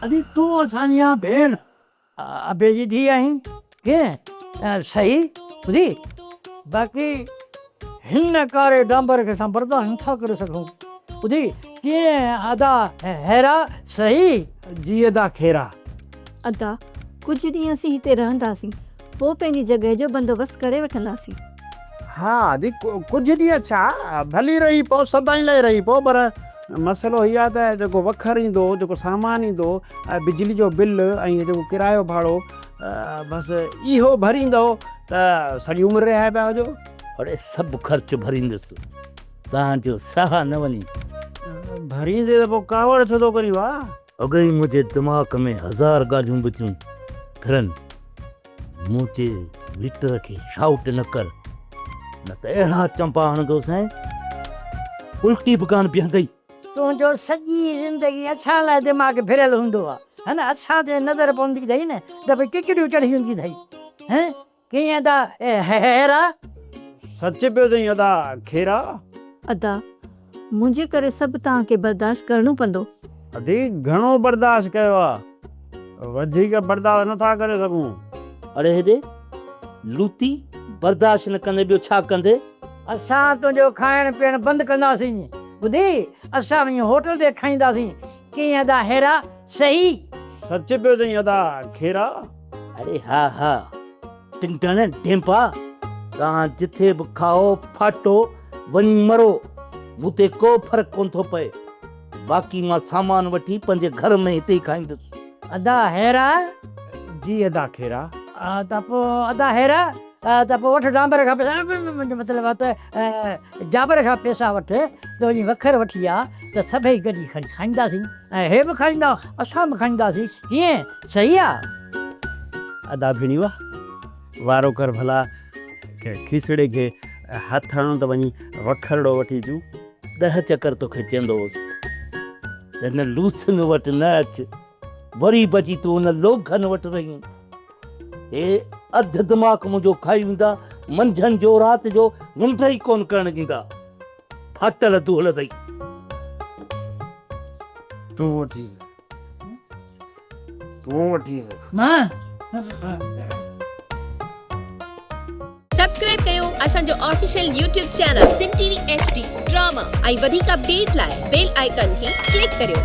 ادي تون اسانجي آن ڀيڻ ابي جي ڌي آهين ڪين سهي ادي باقي هن ڪاري ڊانبر کي اسان برداشت نٿا ڪري سگهون ادي ڪين ادا هيرا سهي. جي ادا خيرا. ادا ڪجهه ڏينهن اسين هتي رهنداسين پوء پنهنجي جڳهه جو بندوبست ڪري وٺنداسين. ها جي ڪجهه ڏينهن ڇا، ڀلي رهي پئو، سدائين لاء رهي پئو، پر مسئلو هي آهي ته جيڪو وکر ايندو، جيڪو سامان ايندو، بجلي جو بل ۽ هي جيڪو ڪرايو ڀاڙو، بس اهو ڀريندؤ ته سڄي عمر رهايا پيا هجو. اڙي سڀ خرچ ڀريندس، تان جو ساهه نه وڃي. ڀريندين ته پوء ڪاوڙ ڇو ٿو ڪرين وا؟ اڳي ئي منهنجي دماغ ۾ هزار ڳالهيون به ٿيون ڦرن، منهنجي ميٽر کي شائوٽ نه ڪر نه ته اهڙا چنبا هڻندوسين الٽي به ڪانه بيهندئي. تنهنجو سڄي زندگي اسان لاء دماغ ڦريل هوندو ها نه اسان تي نظر پوندي اٿئي نه ته به ڪڪڙيون چڙهي ايندي اٿئي. ڪيئي ادا اي هيرا. سچ پيو چئين ادا کيرا. ادا منهنجي ڪري سڀ توهان کي برداشت ڪرڻو پوندو. ادي گهڻو برداشت ڪيو آ وڌيڪ برداشت نه ٿا ڪري سگهون. اڙي هيڏي لوتي برداشت نه ڪندي ٻيو ڇا ڪندي. اسان تنهنجو کائڻ پيئڻ بند ڪنداسين ٻڌي اسان وڃي هوٽل تي کائينداسين. ڪيئي ادا هيرا صحيح. سچ پيو چئين ادا کيرا. اڙي ها ها ٽنڊڻ ڊينبا توهان جٿي به کائو ڦاٽو وڃي مرو مون تي ڪو فرق ڪون ٿو پئي باقي مان سامان وٺي پنهنجي گهر ۾ هتي ئي کائيندس. ادا هيرا. جي ادا کيرا. ته پوء ادا هيرا ته پوء وٺ ڊانبر کان پئسا، منهنجو مطلب آ ته جابر کان پئسا وٺ ته وڃي وکر وٺي آ ته سڀئي گڏجي کڙي کائينداسين ۽ هي به کائيندا اسان به کائينداسين ڪيئن صحيح آ؟ ادا ڀيڻي واه وارو ڪر ڀلا کيسڙي کي هٿ هڻو ته وڃي وکرڙو وٺي اچون. ڏهه چڪر توکي چيندو هوس ته هن لوسن وٽ نه اچ وري به اچي تون هن لوگن وٽ رهين هي اڌ دماغ منهنجو کائي ويندا، منجهند جو رات جو ننڊ ئي ڪونه ڪرڻ ڏيندا. ڦاٽل دهل اٿئي. تون وٺي سگهه. تون وٺي سگهه. مان. سبسڪرائب ڪيو اسان جو official YouTube channel Sindh T V H D drama ۽ وڌيڪ اپڊيٽ لاء بيل آئيڪان کي ڪلڪ ڪريو.